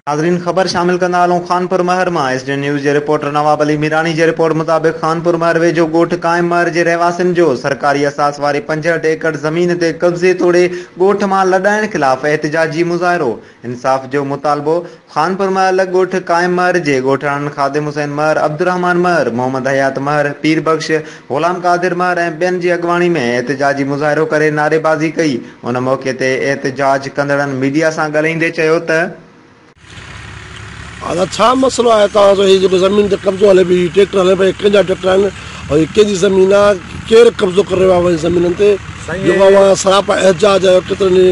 ناظرين خبر شامل ڪندا هلون خانپور مهر مان ايس ڊي اين نيوز جي رپورٽر نواب علي ميراڻي جي رپورٽ مطابق خانپور مهر ويجهو ڳوٺ قائم مهر جي رهواسين جو سرڪاري اثاث واري پنجهٺ ايڪڙ زمين تي قبضي توڙي ڳوٺ مان لڏائڻ خلاف احتجاجي مظاهرو انصاف جو مطالبو، خانپور مهر لڳ ڳوٺ قائم مهر جي ڳوٺاڻن خادم حسين مهر، عبدالرحمان مهر، محمد حيات مهر، پير بخش، غلام قادر مهر ۽ ٻين جي اڳواڻي ۾ احتجاجي مظاهرو ڪري نعريبازي ڪئي، ان موقعي تي احتجاج ڪندڙن ميڊيا سان ڳالهائيندي چيو ته. ادا ڇا مسئلو آهي توهان جو هي جيڪو زمين تي قبضو هلي پيو هي ٽريڪٽر هلن پيا هي ڪنهن جا ٽريڪٽر آهن اوهان جي ڪنهن جي زمين آ ڪير قبضو ڪري رهيو آ اوهان جي زمينن تي جو اوهان سراپا احتجاج آهيو ڪيترن ئي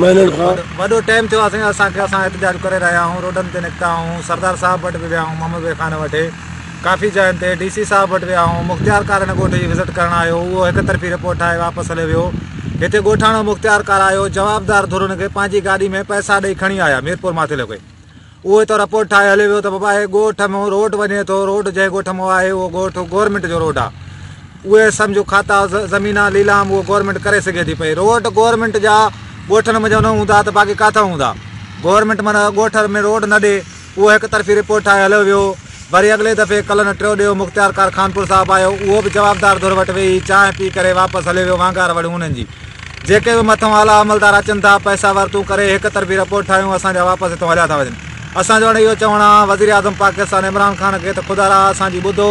مهينن کان. وڏو ٽيم ٿيو آ سائين اسان کي اسان احتجاج ڪري رهيا آهون روڊن تي نڪتا آهون سردار صاحب وٽ به ويا آهون محمد بي خان وٽ ڪافي جاين تي ڊي سي صاحب وٽ ويا آهون مختيار ڪار هن ڳوٺ جي وزٽ ڪرڻ آيو هو اهو هڪ طرفي رپورٽ ٺاهي واپس هليو ويو هتي ڳوٺاڻو مختيار ڪار آيو جوابدار ڌر ان کي پنهنجي گاڏي ۾ پئسا ڏئي کڻي آيا ميرپور ماٿيلو کي اهو ته رپورٽ ٺاهي هليو ويو ته بابا هي ڳوٺ مون روڊ وڃي ٿو، روڊ جنهن ڳوٺ مون آهي اهو ڳوٺ گورنمينٽ جو روڊ آهي. اهي سمجهو کاتا، زمينا، ليلام اهو گورنمينٽ ڪري سگهي ٿي پئي. روڊ گورنمينٽ جا ڳوٺن منجهان نه هوندا ته باقي ڪاٿان هوندا. گورنمينٽ معنيٰ ڳوٺ ۾ روڊ نه ڏي اهو هڪ طرفي رپورٽ ٺاهي هليو ويو. وري اڳلي دفعي ڪلن ٽيو ڏيو مختيار ڪار خانپور صاحب آيو، اهو به جوابدار ڌر وٽ ويهي چانهه پي ڪري واپس هليو ويو وانگار وڙهيون انهن جي جيڪي به مٿئون اعليٰ عملدار اچن ٿا پئسا ورتون ڪري هڪ طرفي رپورٽ ٺاهيون اسان جا واپس هتئون هليا ٿا وڃن اسان جو هاڻي اهو چوڻ آ وزيراعظم پاڪستان عمران خان کي ته خدا را اسان جي ٻڌو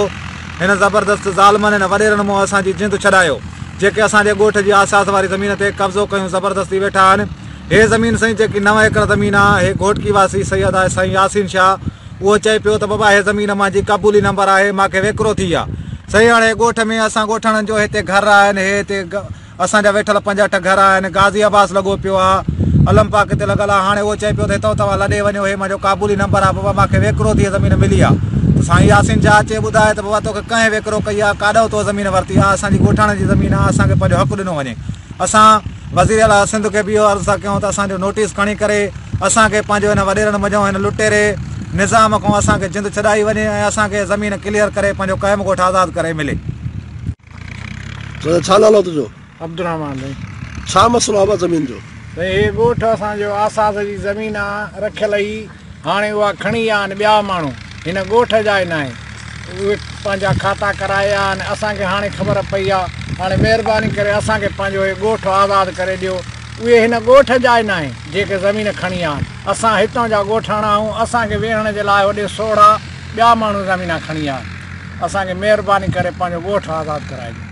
هن زبردست ظالمن هن وڏيرن مون اسان جي جند ڇڏايو جيڪي اسان جي ڳوٺ جي آساس واري زمين تي قبضو ڪيون زبردستي ويٺا آهن هي زمين سائين جيڪي نو ايڪڙ زمين آ هي گهوٽڪي واسي سيد آ سائين ياسين شاهه اهو چئي پيو ته بابا هي زمين امان جي قبولي نمبر آهي مان کي ويڪرو ٿي آ سهي هاڻي ڳوٺ ۾ اسان ڳوٺاڻن جو هتي گهر آهن هي هتي اسان جا ويٺل پنج اٺ گهر آهن غازي عباس لڳو پيو آ علم پاڪ تي لڳل آ هاڻي اهو چئي پيو ته هتو توهان لڏي وڃو هي منهنجو قبولي نمبر آ بابا مان کي ويڪرو ٿي زمين ملي آ ته سائين ياسين شاهه اچي ٻڌائي ته بابا توکي ڪنهن ويڪرو ڪئي آ ڪاڏئون تو زمين ورتي آ اسان جي ڳوٺاڻن جي زمين آ اسان کي پنهنجو حق ڏنو وڃي اسان وزيراعليٰ سنڌ کي به اهو عرض ٿا ڪيون ته اسان جو نوٽيس کڻي ڪري اسان کي پنهنجو هن وڏيرن منجهون هن لٽيري نظام کان اسان کي جند ڇڏائي وڃي ۽ اسان کي زمين ڪليئر ڪري پنهنجو قائم ڳوٺ آزاد ڪري ملي. سائين ڇا نالو تنهنجو؟ عبدالرحمان سائين. ڇا مسئلو آ ابا زمين جو؟ سائين هي ڳوٺ اسان جو آساس جي زمين آ رکيل هي. هاڻي اها کڻي ويا آهن ٻيا ماڻهو، هن ڳوٺ جا ئي ناهن، اهي پنهنجا کاتا ڪرائي ويا آهن، اسان کي هاڻي خبر پئي آهي، هاڻي مهرباني ڪري اسان کي پنهنجو هي ڳوٺ آزاد ڪري ڏيو، اهي هن ڳوٺ جا ئي ناهن، جيڪي زمين کڻي ويا آهن، اسان هتان جا ڳوٺاڻا آهيون، اسان کي ويهڻ جي لاء هوڏي سوڙها ٻيا ماڻهو زمينا کڻي ويا آهن، اسان کي مهرباني ڪري پنهنجو ڳوٺ آزاد ڪرائي ڏيو.